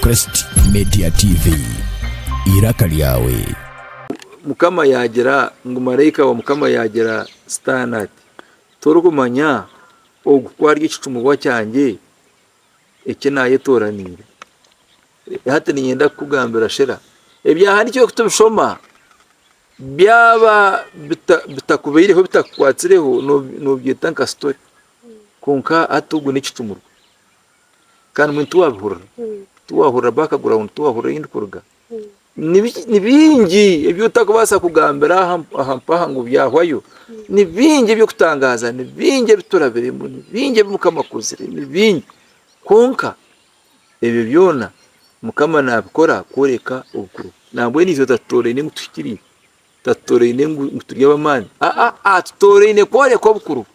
Crest Media TV, eiraka ryawe. Mukama yaagira ngu maraika wa Mukama yaagira Sitaane ati, Torikumanya ogu ku ari ekicumubwa kyangye eki naayetooraniire? Hati niinyenda kukugambira shera ebyahandiikirwe kutubishoma byaba bitakubaireho, bitakukwatsireho, noobyeta nka sitori. Kwonka hati ogwo n'ekicumuro. Kandi mbwenu tiwabihurira, tiwahurira background, tiwahurira ei ndikuruga. Ni bi- ni bingi ebi otarikubaasa kugambira aha aha mpaha ngu byahwayo. Ni bingi eby'okutangaaza, ni bingi ebi turabiremu, ni bingi ebi Mukama akozire, ni bingi. Kwonka ebyo byona Mukama naabikora kworeka obukuru bwe. Nambwenu itwe tatutoraine ngu tuhikiriire. Tatutoraine ngu turi ab'amaani, aa, atutoraine kworeka obukuru bwe.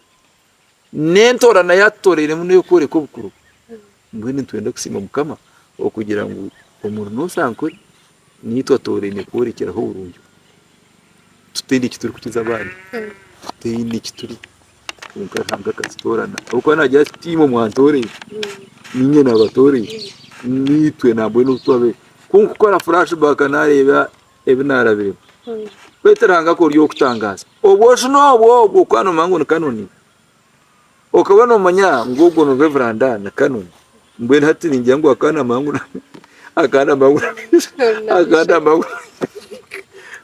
N'entoorana ei atutorainemu n'ey'okworeka obukuru bwe. Mbwenu nitwenda kusiima Mukama okugira ngu omuri Nosankore naitwe atoraine kworekyeraho oburungi bwe. Tutaine eki turikukiza abandi, tutaine eki turi, kwonka Ruhanga akatutoorana. Ahabw'okuba naagira ati, Ti imwe mwantoreire, niinye naabatoreire. Naitwe nambwenu obu twabaire, ku nkukora flash back naareeba ebi naarabiremu. Baitu Ruhanga akora eby'okutangaaza. Obwojo n'obwo obw'okuba noomanya ngu ni Kanoni, okaba noomanya ngu ogwo ni Rev. Ann Kanoni, mbwenu hati ningira ngu akaba naamanya ngu akaba naamanya ngu akaba naamanya ngu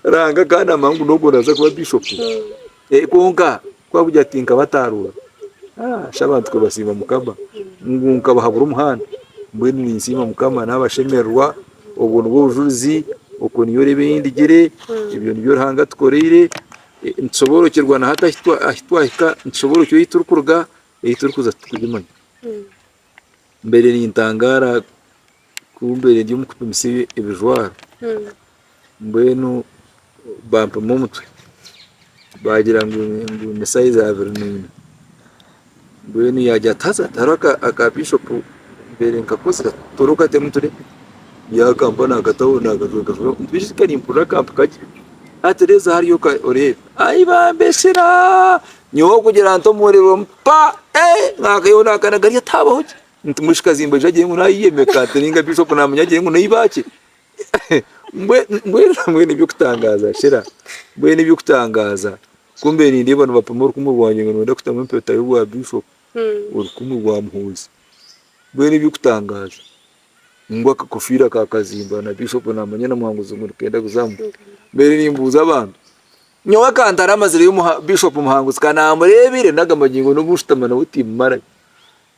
Ruhanga akaba naamanya ngu n'ogwo naaza kuba Bishopu. Kwonka kwakugira ati nkabataarura shi abantu kubasiima mukama ngu nkabahabura omuhanda mbwenu ninsiima mukama nabashemererwa obwo nibwo bujurizi okwo niyo reeba eyindigire ebyo nibyo Ruhanga atukoreire nitushoboorokyerwa na hati ahu twahika nitushoboorokyerwa ahu turikuruga ahu turikuza titurikugimanya mbaire nintangaara kumbeire ndi omukupimisa ebijwaro mbwenu bampima omutwe bagira ngu ni size abiri na ina mbwenu yagira ati haza hariho aka bishop mbaire nkakozire tora okatemu ture yakampa nakataho nakajweka beitu kare mpurira akampika gye ati reezaho ari oka oreebe ayi bambesera nyowe kugira ntomore paa nakayoona akana kari ati habaho ki. Nti mwishiki zimba ija agire ngu nayiya emikaate ninga bishop namanya agire ngu neiba ki? Mbwenu ebyokutangaaza shera mbwenu ebyokutangaaza kumbe nindeeba nibapima orukumu rwangye ngu niwenda kutamu empeta yobwa bishop orukumu rwa muhoozi mbwenu ebyokutangaaza ngu akakofiira ka kazimba na bishop namanya na muhanguzi ngu nikenda kuzamu mbaire nimbuuza abantu nyowe akantara amazireyo bishop muhanguzi kanamureebire nagamba ngu nobu nshutama nawe timumarayo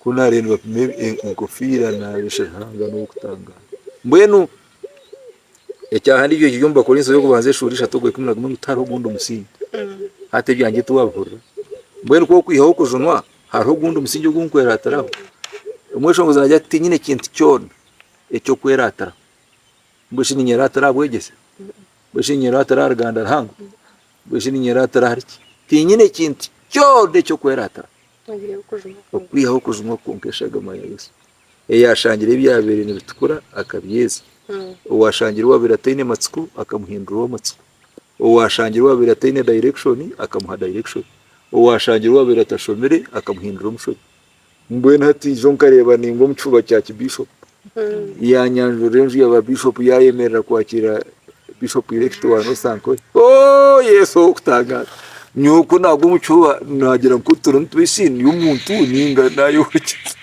kunari nibapima enkofiira nabeshya Ruhanga nowokutangara mbwenu ekyahandiikirwe kiri omu Bakorinso yokubanza eshuura ishatu ogwa ikumi na gumwe ngu tihariho ogundi omusingi hati ebyangye tiwabihurira mbwenu kwokwihaho okujunwa hariho ogundi omusingi ogunkweratiraho omweshongooza nagira ati tinyine kintu kyoona ekyokweratiraho mbwenu shi ninyeratira aha bwegyese mbwenu shi ninyeratira ahari Ruhanga mbwenu shi ninyeratira ahari ki tinyine kintu kyoona ekyokweratiraho. Okwihaho okujuma okwonka eshagama ya Yesu. Eyashangire ebyabaire nibitukura akabyeza. Owashangire owaabaire ataine matsiko akamuhindura ow'amatsiko. Owashangire owaabaire ataine direction akamuha direction. Owashangire owaabaire atashomire akamuhindura omushomesa. Mbwenu hati ijo nkareeba ninga omu kifuba kya kibishopu. Yaanyanjurira enju ya baabishopu yaayemerera kwakiira Bishopu Irekiti wa North Ankole. Oh, Yesu ow'okutangaaza! Nyowe ku naagwa omu kifuba naagira ngu ku turimu tubisi ndi omuntu ninga naayehurikiza.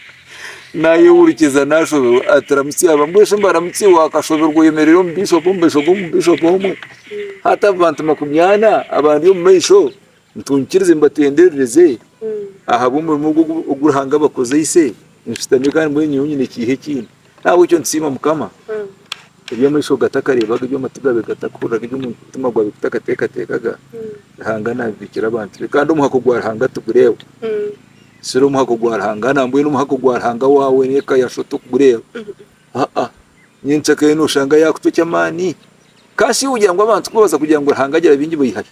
Naayehurikiza naashoberwa. Ati, Ramutsya aba. Mbwenu mbaramutse, waakashoberwa oyemereire omu bishopu, omu maisho g'omubishopu omwe, hati abantu makumi ana abandi omu maisho. Nitunkiriza mbatenderereze ahabw'omurimo ogu Ruhanga abakozeise, nshutami kandi mbwenu nyowe nyine ekiiha ekindi. N'ahabw'ekyo nitusiima Mukama, ebi amaisho gatakareebaga, ebi amatu gaabe gatakahuriraga, ebi omutima gwabe gutakateekateekaga, Ruhanga naabibiikira abantu be. Kandi omuhako gwa Ruhanga tigureeba. Siri omuhako gwa Ruhanga nambwenu omuhako gwa Ruhanga waawe n'eka ya Sho tigureeba. Haa, nyenceka eyo nooshanga yaakucwa eky'amaani. Ka shi ogira ngu abantu kubabaza kugira ngu Ruhanga agira baingi baihayo?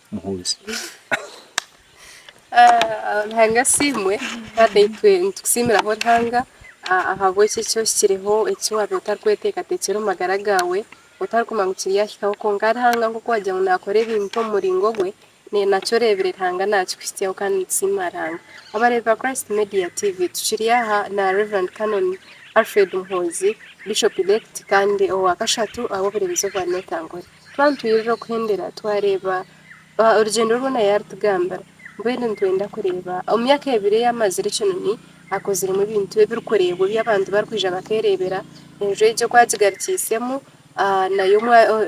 muhuuzi. Ah, Ruhanga asiimwe. Father, itwe nitukusiimiraho Ruhanga ah, ahabw'eki eki ohikireho, eki waabaire otarikweteekateekyera omu magara gaawe, otarikumanya ngu kiryahikaho. Kwonka Ruhanga nk'oku waagira ngu naakora ebintu omu muringo gwe, ne- nakyo oreebire Ruhanga naakikuhitsyaho kandi nitusiima Ruhanga. Abareebi ba Christ Media TV, tukiri aha na Rev. Canon Alfred Muhoozi, Bishop Elect kandi owa kashatu ow'obureebezi obwa North Angola. Twantwirira okuhendera twareeba orugyendo rwona yaaritugambira. Mbwenu nitwenda kureeba omu myaka ebiri ei amazire ekinoni akoziremu ebintu ebirikureebwa ebi abantu barikwija bakeereebera. Enju egyo oku agigarukiisemu nayo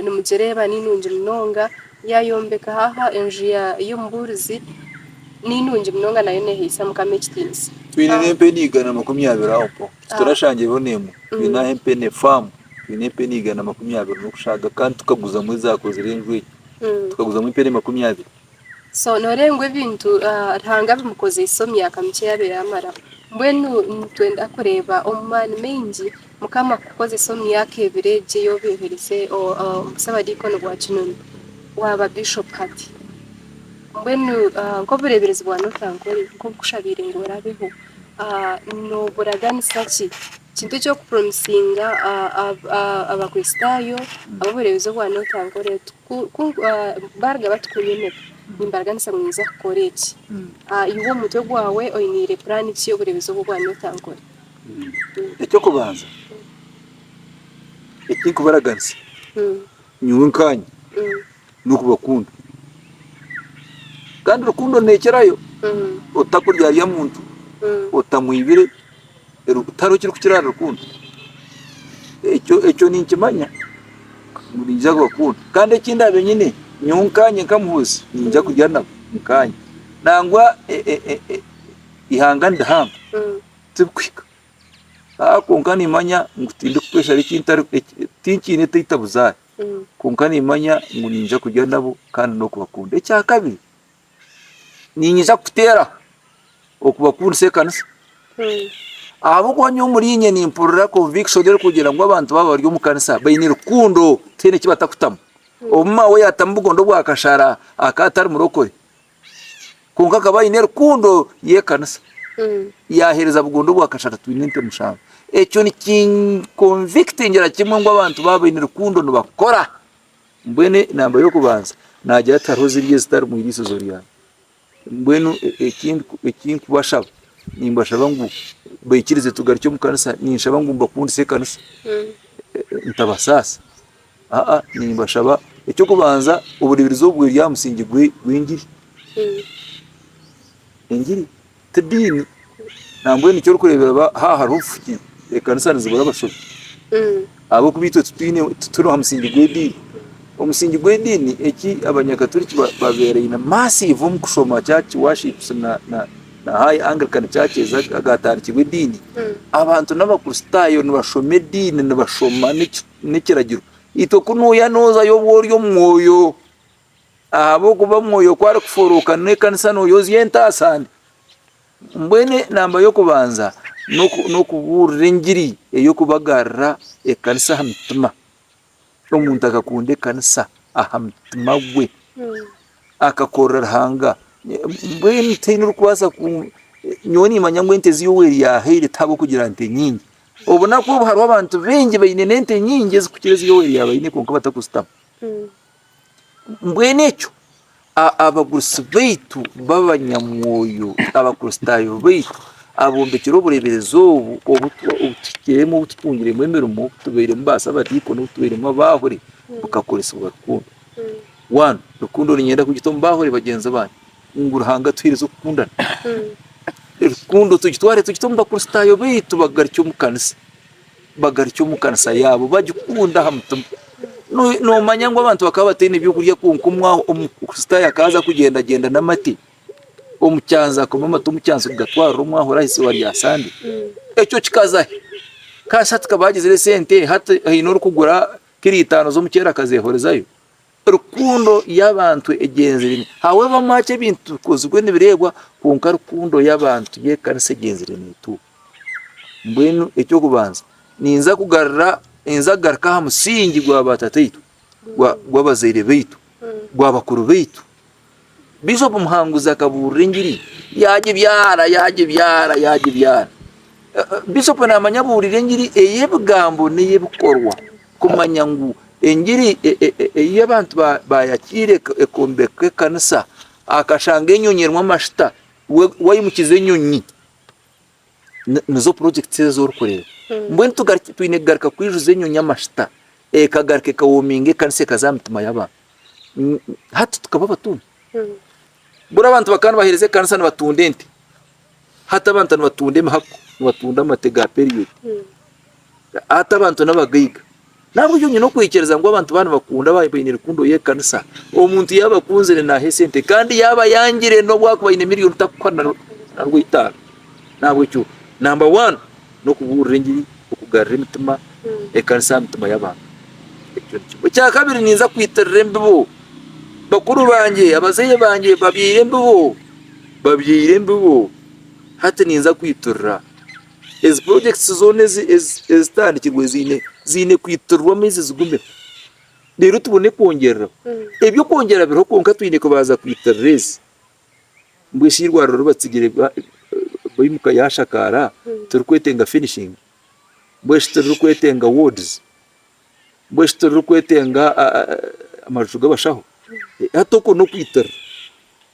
nimugireeba ni nungi munonga. Yaayombeka haha enju y'omubuurizi ni nungi munonga nayo neehaisa Mukama ekitiinisa. Twine n'empenu igana makumi abiri aho mpaho. Titurashangiraho n'emwe. Twine aha empene, faamu, twine empene igana makumi abiri n'okushaaga kandi tukaguzamu ezaakozire enju egi. Tukaguzamu empene makumi abiri. So nooreeba ngu ebintu Ruhanga abimukozeise omu myaka mikye yaabaire amaraho. Mbwenu nitwenda kureeba omu maani maingi Mukama kukukozesa omu myaka ebiri egi ei obeiherize Busabadiikoni bwa Kinoni, waaba Bishopu hati. Mbwenu nk'obureeberezi bwa North Ankole, nk'obu nkushabiire ngu oraabeho, Nooburaganisa ki? Kintu ki okupuromisinga Abakristaayo ab'obureebezi obwa Nooti Ankore oti, Ku baaruga batikunyomera, nimbaraganisa ngu ninyija kukora eki? Iwe omu mutwe gwawe oiniire puraani ki y'obureebezi obwo obwa Nooti Ankore? Eky'okubanza eki ndikubaraganisa, nyowe nkaanye n'okubakunda. Kandi rukundo neekirayo otakuryarya muntu, otamwibire, tihariho ekirikukira ahari rukundo. Ekyo ekyo ninkimanya ngu niija kubakunda. Kandi eki ndaabe nyine, nyowe nkaanye nkamuhoozi niija kurya nabo nkaanye. Nangwa e- e- e- e- eihanga nirihango, tirikuhika. Haa kwonka nimmanya ngu tindikukweshara eki ntari, eki tinkiine, taita buzaare. Kwonka nimmanya ngu niinyija kurya nabo kandi n'okubakunda. Ekya kabiri, niinyija kuteeraho okubakundisa ekanisa. Ahabw'okuba nyowe omuriinye nimpurira conviction erikugira ngu abantu baaba bari omu kanisa baine rukundo tihaine eki batakutamu. Obu maawe yaatamu obugondo bwa kashara akaba atari murokore. Kwonka akaba aine rukundo y'ekanisa. Yahereza bugondu obwa kashatu twine ente mushanju. Ekyo nikinkonvikitingira kimwe ngu abantu baba baine rukundo nibakora. Mbwenu enamba y'okubanza nagira ati hariho zirya ezitari omu iriisizo ryange. Mbwenu ekinkubashaba nimbashaba ngu baikirize tugarukye omu kanisa. Ninshaba ngu mbakundise ekanisa ntabasaasa. Aa nimbashaba eky'okubanza obureeberezi obu buri aha musingye gw'engiri, engiri tidiini nambwenu eki orikureebera ba haaha hariho obufuki ekanisa nizibura abashobi ahabw'okuba itwe titwine tituri aha musingye gw'ediini, omusingye gw'ediini eki abanyakaturiki ba babeeraine massive omu kushoma church worship na na na high Anglican churches aga agaatandikirwe ediini, abantu n'abakristaayo nibashoma ediini nibashoma n'eki N'ekiragiro. Itwe ku nooya noozayo oba ori omu Mwoyo. Ahabw'okuba Mwoyo ku arikuforooka n'ekanisa nooya ozya entaasa ndi. Mbwenu enamba y'okubanza n'okubuurira engiri ey'okubagarira ekanisa aha mitima. Omuntu akakunda ekanisa aha mutima gwe. Akakorera Ruhanga. Mbwenu tihaine orikubaasa ku... Nyowe niimanya ngu ente ezi Yoweeri yaahaire ti ahabw'okugira nte nyingi. Obunaku obu hariho abantu baingi baine n'ente nyingi ezikukira ezi Yoweeri yaaba aine kwonka batakuzitamu. Mbwenu ekyo abagurusi baitu b'abanyamwoyo, Abakristaayo baitu abombekire obureeberezi obu obu tuhikiremu, obu tutungiremu emirimo, obu tubairemu baasabadiikoni, obu tubairemu abaahure, bukakoresibwa rukundo. Wanu, rukundo niinyenda kugita omu baahure bagyenzi bange. Ngu Ruhanga atuheereze okukundana. Rukundo tugitware tugite omu Bakristaayo baitu bagaruke omu kanisa. Bagaruke omu kanisa yaabo bagikunda aha mutima. No- Noomanya ngu abantu bakaba bataine byokurya kwonka omwa- Omukristaayo akaaza kugyendagyenda n'amate omu kyanzi akanywa amate omu kyanzi kugatwarira omwahura aha eizooba rya Sande. Ekyo kikaza hi? Ka shi hati ka baagizire esente hati haine orikugura kiro itaano z'omuceeri akazeehorezayo? Rukundo y'abantu egyenziremu. Habw'abamwaaki ebintu tibikozirwe nibireebwa, kwonka rukundo y'abantu y'ekanisa egyenzire neetuuka. Mbwenu eky'okubanza, ninza kugarura, ninza kugaruka aha musingi gwa baatataitwe, gwa, gw'abazaire baitu, gwa bakuru baitu, Bishop Muhanguzi akabuurira engiri yaagibyara, yaagibyara, yaagibyara. Bishop naamanya abuurire engiri ey'ebigambo n'ey'ebikorwa kumanya ngu engiri e, e, e, ei abantu baayakiire ekombeka ekanisa akashanga enyonyi erimu amashita, waimukiza enyonyi Ni- nizo projects ezo orikureeba mbwenu tugaruki- twine kugaruka kwijuza enyonyi amashita ekagaruka ekawominga ekanisa ekaza aha mitima y'abantu N- hati tukaba abatumwa buri abantu bakaba nibaheereza ekanisa nibatunda ente hati abantu nibatunda emihako nibatunda amate ga period hati abantu n'abagaiga Nahabwekyo nyine okwikiriza ngu abantu baaba nibakunda baaba baine rukundo y'ekanisa, omuntu yaaba abakunzire naaha esente kandi yaaba ayangire n'obu akuba aine miliyoni takuha na rw'eitaano. Nahabwekyo namba wani n'okubuurira engiri okugarura emitima ekanisa aha mitima y'abantu. Ekyo ni kimwe. Ekya kabiri ninza kwitirira embibo. Bakuru bangye, abazaire bangye babyaire embibo, babyaire embibo hati ninza kwitirira. Ezi projects zoona ezitandikirwe ziine kwitirirwa amaizi zigumeho reero tubone kwongyereraho. Ebyokwongyera biriho kwonka twine kubanza kwitirira ezi mbwenu shi eirwariro ribatsigire baimuka yaashakaara tirikwetenga finishing? Mbwenu shi tiririkwetenga wards? Mbwenu shi tiririkwetenga amaju g'abashaho? Hati okwo n'okwitirira.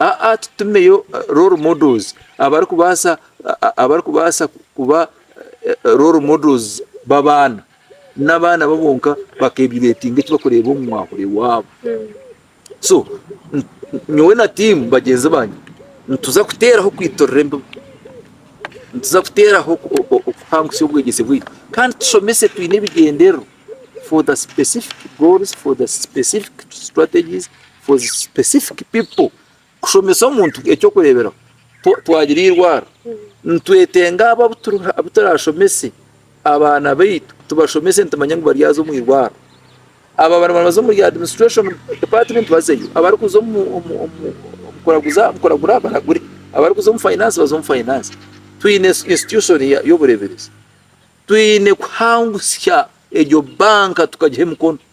Aa Tutumeyo role models abarikubaasa abarikubaasa kuba role models b'abaana n'abaana bo bonka bakeevaluetinga eki barikureeba omu mwahuri waabo. So nyowe na tiimu bagyenzi bangye nituza kuteeraho kwiturira embibo, nituza kuteeraho okuhangutsya obwegyese bwaitu kandi tushomese twine ebigyendererwa for the specific goals, for the specific strategies. for specific people kushomesa omuntu ekyokureberaho twagira eirwaro nitwetenga abo abuturashomese abaana baitu tubashomese nitumanya ngu baryaza omu irwaro aba bariyo nibaza omuri administration department bazeyo abarikuza omu kuraguza kuragura baragure abarikuza omu finance baze omu finance twine institution y'obureberezi twine kuhangutsya egyo banka tukagiha emikono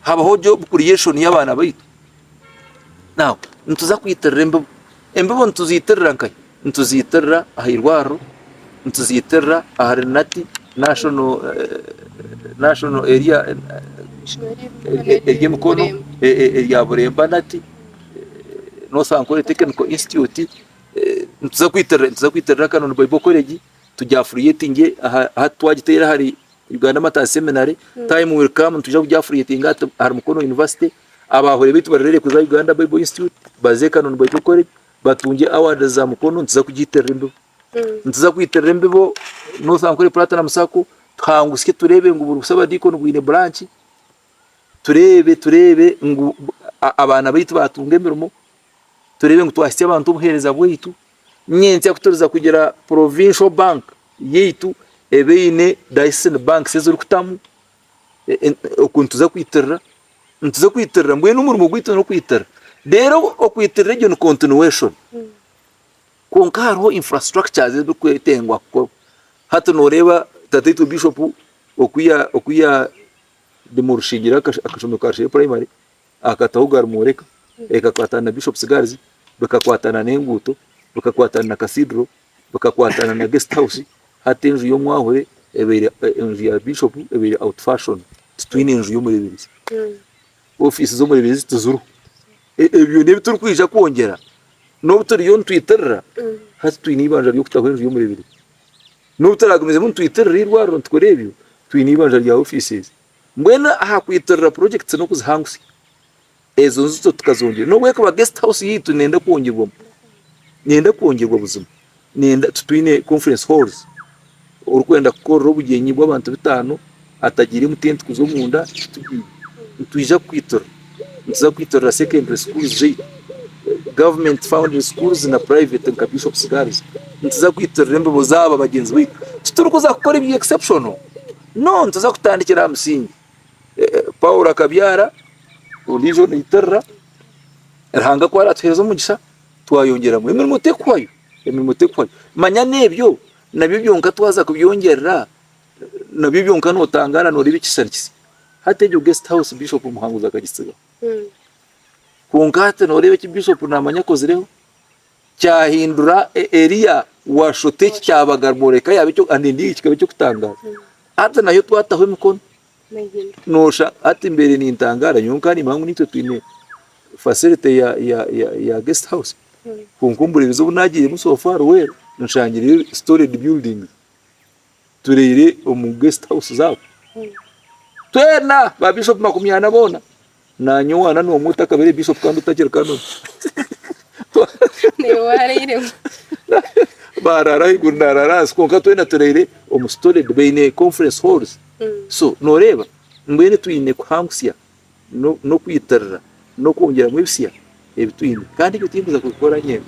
habaho job creation y'abaana baitu now nituza kwitirira embibo embibo nituzitirira nkai nituzitirira aha irwariro nituzitirira ahari nati national eh, national area ery'emikono erya buremba nati nosankore technical institute eh, nituza kwitirira nituza kwitirira kano ni bible college tugya affiliatinge aha twagiteera ahari Uganda Martyrs Seminary, time will come nitwija kugya affiliatinga hati ahari Mukono University, abaahure baitu barerere kuza Uganda Bible Institute, baze e Kanoni Bible College, batungye awards za Mukono, nituza kugiitirira embibo. Nituza kwiitirira embibo North Ankole Platinum Sacco, tuhangusye tureebe ngu buri busabadiikoni bwine branch, tureebe tureebe ngu a- abaana baitu baatunga emirimo, tureebe ngu twahitsya abantu obuheereza bwaitu. Nyenkya ku turiza kugira Provincial Bank yaitu ebe eine Diocesan Banks eziri kutamu oku nituza kwitirira, nituza kwitirira mbwenu omurimo gwaitu n'okwitirira. Reero okwitirira egyo ni continuation. Kwonka hariho infrastructures eziri kwetengwa kukorwa. Hati nooreeba Tataitwe Bishop oku ya, oku ya demolishingyire akashomero ka Rushenyi Primary, Aha kataho Garmoreka, ekakwatana na Bishop's Gulls, bikakwatana n'enguuto, bikakwatana na Cathedral, bikakwatana na Guest House, hati enju y'omwahure ebaire enju ya Bishop ebaire out fashion. Titwine nju y'omureeberezi. Ofiisi z'omureeberezi tiziriho. E- Ebyo byona ebi turikwija kwongyera n'obu turiyo nitwitirira hati twine eibanja ry'okutaho enju y'omureeberezi. N'obu turaagumiizemu nitwitirira eirwariro nitukora ebyo, twine eibanja rya ofiisi ezi. Mbwenu aha kwiturira purojekiti n'okuzihangutsya, ezo nzito tukazongyera. N'obu ekuba guest house yaitu neenda kwongyerwamu, neenda kwongyerwa buzima, neenda titwine conference halls, orikwenda kukorera obugyenyi bw'abantu bitaano atagiire mu tenti kuza omunda titugiine. Nitwija kukwiturira, nituza kwiturira secondary schools zaitu, government founding schools na private nka Bishop's Girls. Nituza kwiturira embibo zaabo bagyenzi baitu. Titurikuza kukora ebya exceptional. No, nituza kutandikira aha musingi. Paulo akabyara ondiijo naitirira. Ruhanga ku aratuheereza omugisha twayongyeramu. Emirimo tekuhwayo, emirimo tekuhwayo. Manya n'ebyo nabyo byonka twaza kubyongyerera nabyo byonka notangaara noreeba ekishushani kisya. Hati egyo guest house Bishop Muhanguzi akagitsigaho. Hmm. Kwonka hati noreeba eki Bishop namanya akozireho. kyahindura Eliya waashusha eki kyabaga Morekaya kikaba eky'okutangaaza. Hati nayo twataho emikono noosha hati mbaire nintangaara nyowe nkaaba niimanya ngu naitwe twine facility ya guest house kwonka ombureerizi obu naagiiremu so far well nshangireyo storage buildings turaire omu guest house zaabo twena ba Bishop makumi ana boona. Nanye owaana nomwe otakabire bishop kandi otakiri canon. Niwe warairemu. Barara ahaiguru narara ahansi kwonka twena turaire omu storage baine conference halls. Mm. So noreeba mbwenu twine kuhangusya nokwitirira nokwongyeramu ebisya ebitwine kandi ebyo tinkuza kubikora nyena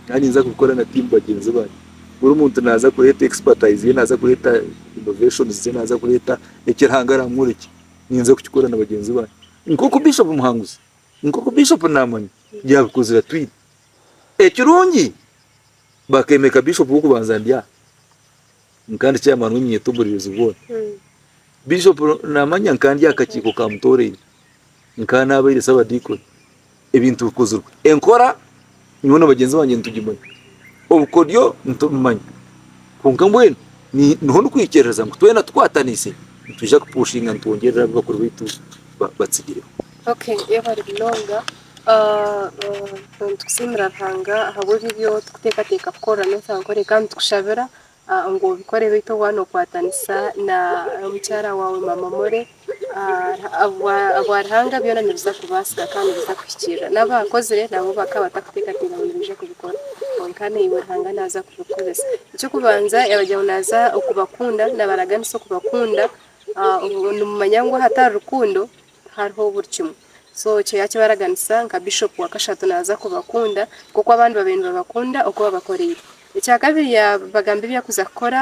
kandi ninza kubikora na team bagyenzi bangye buri omuntu naza kureeta expertise ye naza kureeta innovations ze naza kureeta eki Ruhanga aramworeki. ninza kukikora na bagyenzi bangye nk'oku Bishop Muhanguzi, nk'oku Bishop Naamanya yaabikozire atwine. Ekirungi bakeemeka Bishop w'okubanza ndi aha, nkandi chairman w'eminyeeto obureebezi bwona. Bishop Naamanya nkandi aha kakiiko ka Mutooraine, nkaba naabaire Sabadiikoni, Ebintu bikozirwe. Enkora nyowe na bagyenzi bangye nitugimanya. Obukodyo nitubimanya. Kwonka mbwenu niho ndikwikiriririza ngu twena tukwatanise nitwija kupushinga nitwongyerera abu bakuru baitu batsigireho. Okay yebare munonga nitusiimira Ruhanga ahabw'ebi ebi orikuteekateeka kukora n'otaakore kandi nitukushabira ngu obikore beitu waaba nokwatanisa na mukyara waawe mama more ahabwaruhanga byona nibiza kubasika kandi nibiza kuhikirira naba ahakozire nabo bakaba batakutekateka ngu nibaija kubikora kwonka naiwe ruhanga naija kubikoresa ekyokubanza yagira ngu naija kubakunda nabaraganisa okubakunda nimumanya ngu ahatari rukundo hariho buri kimwe so ekyo yakibaraganisa nka bishop wakashatu naza kubakunda nkoku abandi babaire nibabakunda oku wabakoreire ekyakabiri yabagambira ebi arikuza kukora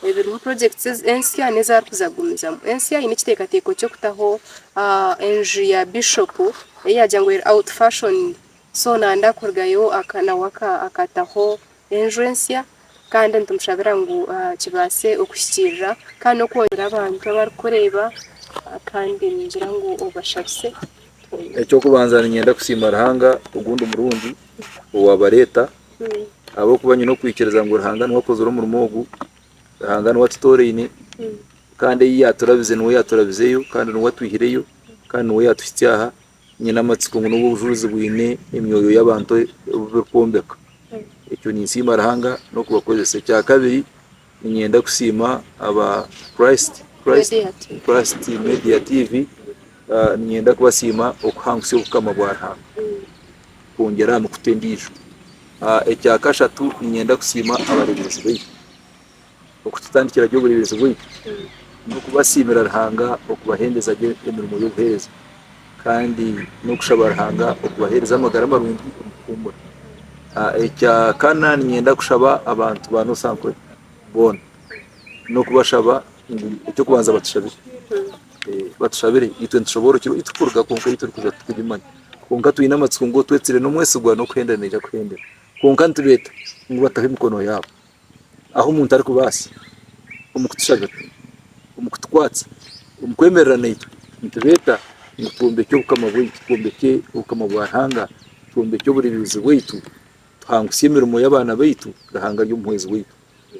ebirimu projects ensya nezi arikuza kugumizamu ensya eine ekitekateko kyokutaho enju ya bishop eyi yagira ngu eri out fashion so nayenda kurugayo nawe akataho enju ensya kandi nitumushabira ngu kibaase okuhikiirira kandi n'okwongyera abantu abarikureeba kandi ningira ngu obashabise. Eky'okubanza niinyenda kusiima Ruhanga ogundi murungi owaabareeta ahabw'okuba nyine okwikiriza ngu Ruhanga niwe akozire omurimo ogu, Ruhanga niwe atutooraine kandi ei yaaturabize niwe yaaturabizeyo kandi niwe atwihireyo kandi niwe yaatuhitsya aha. nyine amatsiko ngu n'obu obujurizi bwine emyoyo y'abantu ebi burikwombeka, ekyo ninsiima Ruhanga n'okubakoresa. Ekyakabiri, niinyenda kusiima aba Christ, Christ, Christ Media TV, ah, niinyenda kubasiima okuhangutsya obukama bwa Ruhanga, kwongyera aha mikutu endiijo. Ah, Ekyakashatu, niinyenda kusiima abareeberezi baitu. Okututandikira gye obureeberezi bwaitu n'okubasiimira Ruhanga okubahendeza gye emirimo y'obuheereza kandi n'okushaba Ruhanga okubaheereza amagara marungi omu kuhuumura. Ekya kana niinyenda kushaba abantu ba Nosankore boona n'okubashaba ngu eky'okubanza batushabire. Batushabire itwe nitushoboorora oku itwe kuruga kwonka ei turikuza titurikimanya. Kwonka twine amatsiko ngu otwetsire n'omwesigwa n'okuhenda naija kuhendera. Kwonka nitubeeta ngu bataho emikono yaabo. ahu omuntu arikubaasa omu kutushabira, omu kutukwatsa, omu kwemerera naitwe nitureeta ngu twombekye obukama bwaitu, twombekye obukama bwa Ruhanga, twombekye oburemeezi bwaitu, tuhangutsye emirimo y'abaana baitu, Ruhanga ari omuhwezi waitu.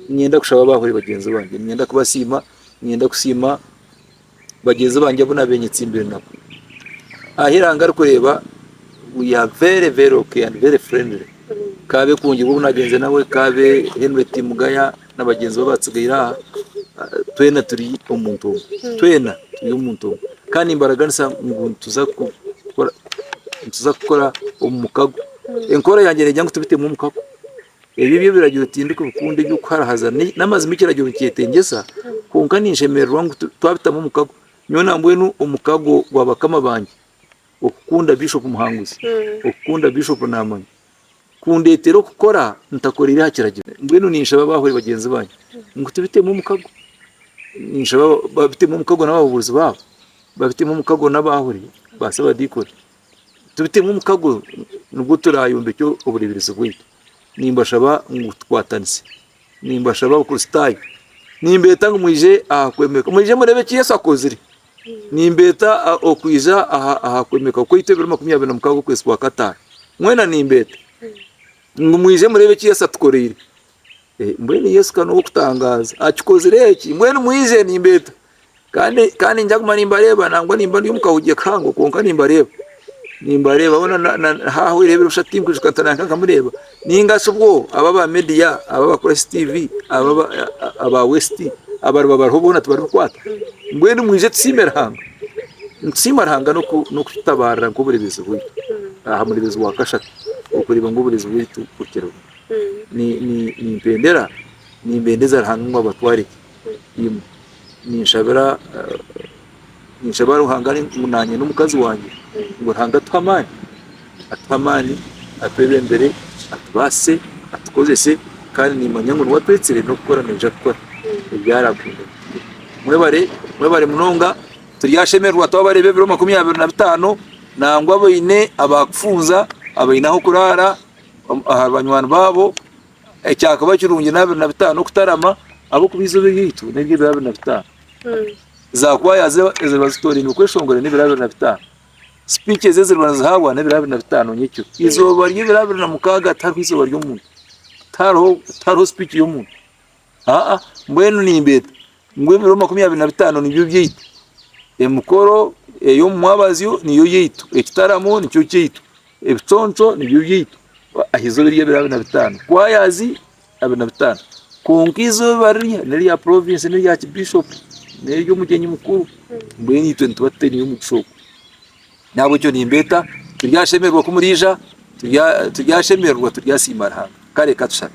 Niinyenda kushaba abahwere bagyenzi bangye, niinyenda kubasiima, niinyenda kusiima. Bagyenzi bangye abu naabaire nyetsimbire nabo, ahu eihanga ririkureeba ngu you are very very okay and very friendly, ka abe Kungibwa ou naagenze nawe, ka abe Henry Timugaya nabagyenzi be abatsigaire aha, twena turi omuntu omwe, twena turi omuntu omwe kandi nimbaraganisa ngu nituza kukora, nituza kukora omu mukago, enkora yangye negira ngu tubiteemu omukago. Ebyo eby'ebiragiro tindikubikunda, eby'okuharahaza n'amazima ekiragiro nikyetengyesa, kwonka ninshemererwa ngu twabitamu omukago. Nyowe nambwenu omukago gwa bakama bangye okukunda Bishop Muhanguzi, okukunda Bishop Namanya kundeetere okukora ntakoreire aha kiragiro. Mbwenu ninshaba abahuri bagyenzi bangye ngu tubitemu omukago. Ninshaba babitemu omukago n'abahubuurizi baabo, babitemu omukago n'abahuri ba Ssabadiikoni, Tibitemu omukago nibwo turaayombekye obureeberezi bwaitu. Nimbashaba ngu tukwatanise. Nimbashaba Abakristaayo, nimbeeta ngu mwije aha kwemeka, mwije mureebe eki Yesu akozire. Nimbeeta okwija aha kwemeka kwaitu ebiro makumi abiri na mukaaga okwezi kwa kataano. Mwena nimbeeta ngu mwije mureebe eki Yesu atukoreire. Mbwenu Yesu ka n'ow'okutangaaza! Akikozire eki! Mbwenu mwije, nimbeeta. Kandi ninguma nimbareeba nangwa nimba ndi omu kahoogye kahango kwonka nimbareeba nimbareeba boona haaho obwire bw'ebiro bishatu tinkwijuka ntaraabe nkamureeba nainga shi obwo aba aba media aba aba Kurasi TV aba aba West abariba bariho boona tibaribikwata mbwenu mwije tusiime Ruhanga nitusiima Ruhanga n'okututabaarira nk'obureebezi bwaitu aha mureebezi wa kashatu okureeba ngu obureebezi bwaitu bukiriho nimpendera nimbeendeza Ruhanga ngu abatware gye. Ninshabira Ruhanga ngu naanye n'omukazi wangye ngu Ruhanga atuhe amaani, atuhe amaani, atwebembere, atubaase, atukozese kandi niimanya ngu niwe atwetsire n'okukora naija kukora ebi araakunda. Mwebare, mwebare munonga, turyashemererwa twabareeba ebiro makumi abiri na bitaano nangwa abaine abaakufunza, abaine ah'okuraara aha banywani baabo. Ekyakaba kirungi ni abiri na bitaano okutarama ahabw'okuba eizooba eryaitu n'ery'ebiro abiri na bitaano. Zaakwaya ze eziriba zitooraine okweshongora n'ebiro abiri na bitaano. Sipiiki ezi eziriba nizihaabwa n'ebiro abiri na bitaano nyekiro. Eizooba ry'ebiro abiri na mukaaga tihariho eizooba ry'omuntu, tihariho sipiiki y'omuntu. Aa, mbwenu nimbeeta ngu ebiro makumi abiri na bitaano nibyo byaitu, emikoro ey'omu mwabazyo niyo yaitu, ekitaramo nikyo kyaitu, ebiconco nibyo byaitu, aha izooba ery'ebiro abiri na bitaano, kwayaazi abiri na bitaano. Kwonka izooba rirya n'erya porovensi, n'erya kibishopu, n'ery'omugyenyi mukuru, mbwenu itwe nituba tutaineyo mugisha ogwo. Nahabwekyo nimbeeta turyashemererwa ku muraija, turyashemererwa, turyasiima Ruhanga. Kare ka tushaabe.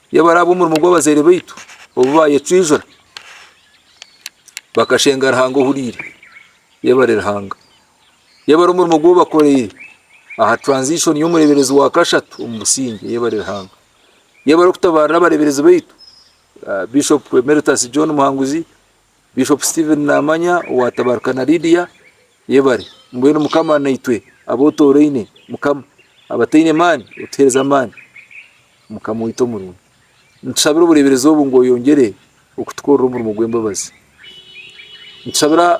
Reeba ari ab'omurimo gw'abazaire baitu obu baayecwijura, bakashenga Ruhanga ohuriire. Reeba ari Ruhanga. Reeba ari omurimo ogu bakoreire aha transition y'omureeberezi wa kashatu omu busingye. Reeba ari Ruhanga. Reeba ari okutabaarira abareeberezi baitu, ah, Bishop Emeritus John Muhanguzi, Bishop Steven Namanya owa Tabaruka na Lydia yebare mbwenu mukama naitwe abotoraine mukama abataine maani otuhereze amaani mukama waitu omurungi nitushabira obureberezi obu ngu oyongere okutukorera omurimo gwembabazi nitushabira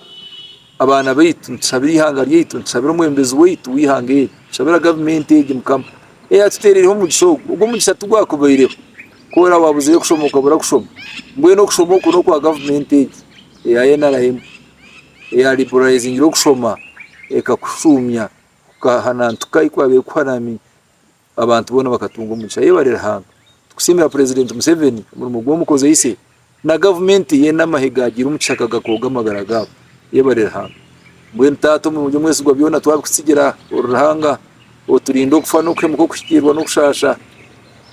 abaana baitu nitushabira eihanga ryaitu nitushabira omwebembezi waitu weihanga eri nitushabira gavumenti egi mukama eyatutereireho omugisha ogu, ogu omugisha tigwakubaireho ku oraba wabuzireyo kushoma okabura kushoma mbwenu okushoma oku nokwa gavumenti egi eya nrm eya liberalizingire okushoma ekakushuumya kukahanantuka ahu kwabaire kuhanami. abantu boona bakatunga omugisha. Yebare Ruhanga. Tukusiimira Purezidenti Museveni omurimo gw'omu kozeise na gavumenti ye n'amahe gaagiire omu kishaka gakooga amagara gaabo. Yebare Ruhanga. Mbwenu Taata omurungi omwesigwa byona twabikutsigira ori Ruhanga oturinde okufa n'okuhemuka okuhikiirwa n'okushaasha.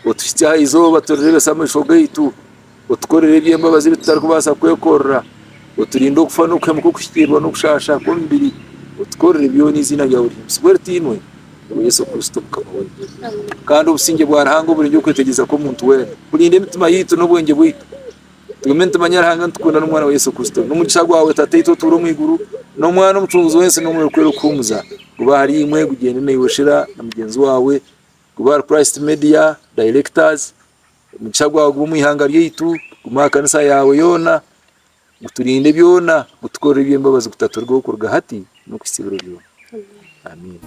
Otuhitsye aha izooba turireebese amaisho gaitu. Otukorere eby'embabazi ebi tutarikubaasa kwekorera, oturinde okufa n'okuhemuka okuhikiirwa n'okushaasha kw'omubiri, otukorere byona eiziina ryawe rihimbisibwe ritiinwe, nyowe Yesu Kristo Mukama waitu. Kandi obusingye bwa Ruhanga oburengye okwetegyereza kw'omuntu weena, burinde emitima yaitu n'obwengye bwaitu, tugume nitumanya Ruhanga, nitukunda n'Omwana we Yesu Kristo. N'omugisha gwawe Tataitu otuura omu iguru, n'Omwana Omucunguzi w'ensi, n'Omwoyo kwera okuhuumuza, gube ahari imwe, gugyende naiwe shera na mugyenzi waawe, gube ahari Christ Media, Directors, Omugisha gwawe gube omu ihanga ryaitu, gume aha kanisa yaawe yoona, guturinde byona, gutukorere eby'embabazi kutaturigweho kuruga hati n'okuhitsya ebiro byona. Amiina.